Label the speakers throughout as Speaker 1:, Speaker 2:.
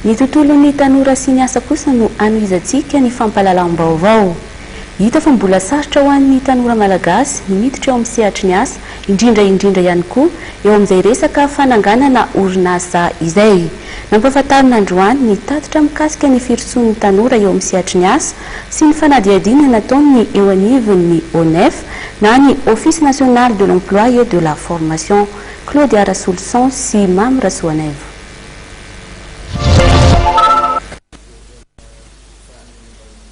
Speaker 1: Ny tontolon'ny tanora sy ny asa kosa no anohizantsika ny fampahalalam-baovao. Hita fa mbola sarotra ho an'ny tanora malagasy ny miditra eo amin'ny sehatry ny asa, indrindra indrindra ihany koa eo amin'izay resaka fananganana orinasa izay. Nampahafantarina androany ny tatitra mikasika ny firosoan'ny tanora eo amin'ny sehatry ny asa sy ny fanadihadiana nataon'ny eo anivon'ny ONEFA na ny Office National de l'Emploi et de la Formation, Claude Arasolison sy Mamy Rasoanaivo.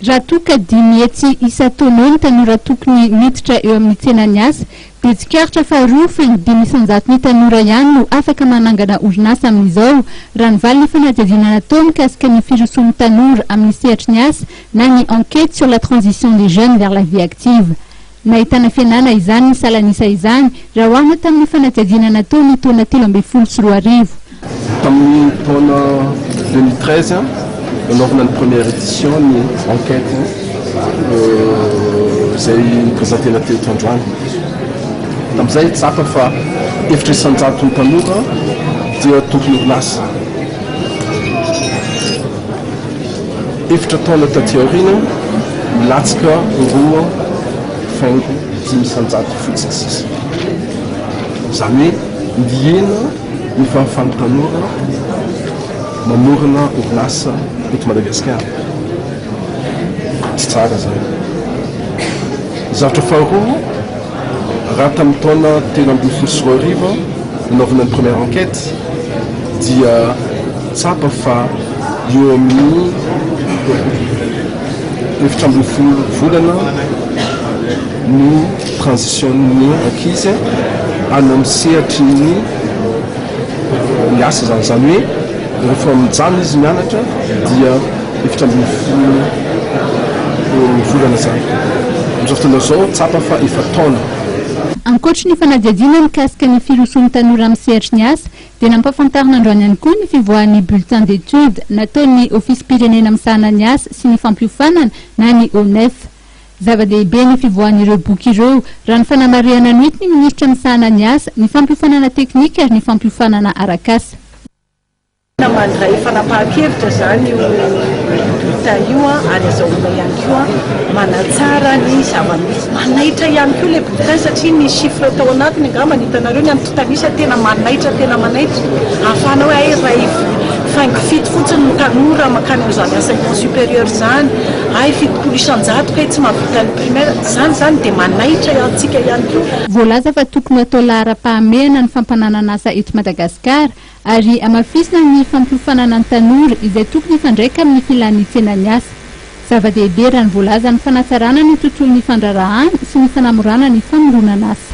Speaker 2: Raha toa ka dimy hetsy isan-taona eo ny tanora tokony miditra eo amin'ny tsenan'ny asa, dia tsikaritra fa roa faingo dimy isan-jaton'ny tanora ihany no afaka manangana orinasa amin'izao, raha ny valin'ny fanadihadiana natao mikasika ny firosoan'ny tanora amin'ny sehatry ny asa na ny enquête sur la transition des jeunes vers la vie active. Nahitana fihenana izany ny salan'isa izany raha oharina tamin'ny fanadihadiana natao ny taona telo ambin'ny folo sy roa arivo. Tamin'ny
Speaker 3: taona deux mille treize, nanaovana ny première édition ny enquête izay nopresentena teto androany. Tamin'izay tsapa fa efitra isan-jaton'ny tanora dia tompon'orinasa. Efatra taona taty aoriana, nilatsaka roa faingo dimy isan-jato fotsiny sisa. Izany hoe nihena ny fahafahan'ny tanora mamorona orinasa eto Madagasikara. Tsy tsara izany. Ny zavatra faharoa, Raha tamin'ny taona telo ambin'ny folo sy roa arivo nanaovana ny première enquête dia tsapa fa eo amin'ny efatra ambin'ny folo volana ny transition-n'ny ankizy any amin'ny sehatry ny ny asa izany, izany hoe. Rehefa mijaly izy mianatra dia efatra ambin'ny folo ny volana izany. Amin'izao fotoana izao tsapa fa efa taona. Ankoatry
Speaker 2: ny fanadihadiana mikasika ny firosoan'ny tanora amin'ny sehatry ny asa dia nampahafantarina androany ihany koa ny fivoahan'ny bulletin d'études nataon'ny Ofisim-pirenena misahana ny asa sy ny fampiofanana na ny ONEF. Zava-dehibe ny fivoahan'ireo boky ireo raha ny fanamarihana noetin'ny minisitra misahana ny asa, ny fampiofanana teknika ary ny fampiofanana arak'asa.
Speaker 4: Mandray fanapahan-kevitra izany io bulletin io ary azahoana ihany koa manatsara ny zava-misy. Manaitra ihany koa ilay bulletin satria ny chiffres tao anatiny angamba hitanareo ny antontan'isa tena manaitra tena manaitra ahafahana hoe hay iray faingo fito fotsiny no tanora mankany amin'izany enseignement supérieur izany, hay fitopolo isan-jato kay tsy mahavita ny primaire. Izany izany dia manaitra antsika ihany koa. Voalaza fa tokony ho atao
Speaker 2: laharam-pahamehana ny fampananan'asa eto Madagasikara. Car, ary hamafisina ny fampiofanana ny tanora izay tokony hifandraika amin'ny filan'ny tsenan'ny asa. Zava-dehibe raha ny voalazan'ny fanatsarana ny tontolon'ny fandraharahana sy ny fanamorana ny famoronan'asa.